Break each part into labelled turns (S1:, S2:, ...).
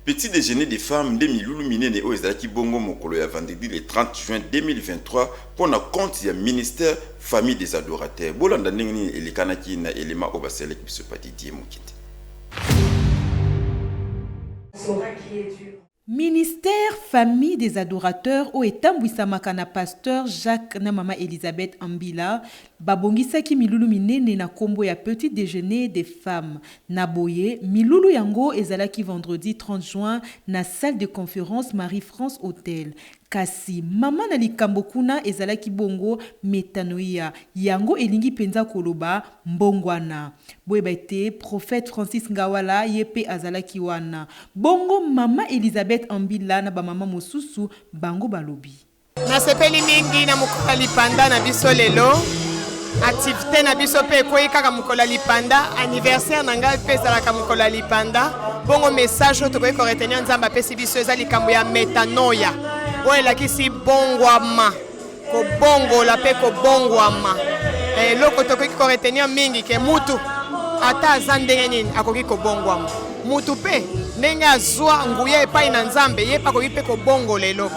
S1: Petit dejeuner des femmes nde milulu minene oyo ezalaki bongo mokolo ya vendredi le 30 juin 2023 mpo na compte ya ministère Famille des adorateurs. Bolanda ndenge nini elekanaki na element oyo basalelaki biso pa Didier Mokete.
S2: Ministère Famille des adorateurs oyo etambwisamaka na Pasteur Jacques na Mama Elisabeth Ambila, Babongisaki milulu minene na kombo ya Petit dejeuner des femmes. Na boye, milulu yango ezalaki vendredi 30 juin na Salle de conference Marie-France Hotel. Kasi, mama na likambo kuna ezalaki bongo metanoia, yango elingi penza koloba mbongwana. Boyeba ete Prophète Francis Ngawala ye pe azalaki wana. Bongo mama Elisabeth Ambila na ba mama mosusu, bango balobi. Nasepeli
S3: mingi na mokolo ya lipanda na biso lelo. Activite na biso mpe ekwei kaka mokolo ya lipanda. Anniversaire na ngai mpe ezalaka mokolo ya lipanda. Bongo message oyo tokoki koretenir Nzambe apesi biso eza likambo ya metanoia oyo elakisi bongwama, kobongola mpe kobongwama. Eh, eloko tokoki koretenir mingi ke mutu ata aza ndenge nini akoki kobongwama. Mutu mpe ndenge azwa nguya epai na Nzambe, ye mpe akoki mpe kobongola eloko.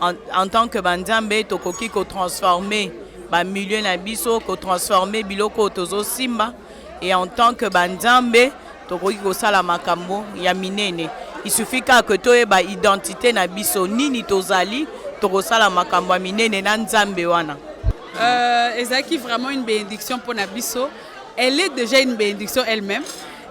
S4: En, en tant que banzambe tokoki kotransforme bamilieu na biso kotransforme biloko oyo tozosimba e en tant que banzambe tokoki kosala makambo ya minene isufi kaka ke toyeba identité na biso nini tozali tokosala makambo ya minene na nzambe wana euh,
S5: ezalaki vraiment une bénédiction mpo na biso elle est déjà une bénédiction elle-même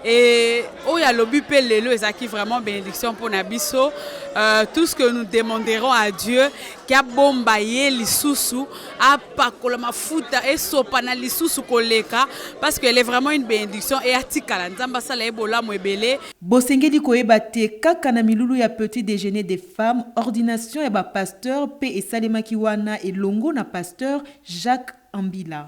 S5: Et oyo oh, alobi pe lelo ezaki vraiment bénédiction pour na biso. Euh, tout ce que nous demanderons à Dieu kia bomba ye lisusu apakola mafuta esopana lisusu koleka parce qu'elle est vraiment une bénédiction et atikala nzambe asala ye bolamu ebele bosengeli koyeba
S2: te kaka na milulu ya petit déjeuner des femmes ordination ya bapasteur mpe esalemaki wana elongo na pasteur jacques ambila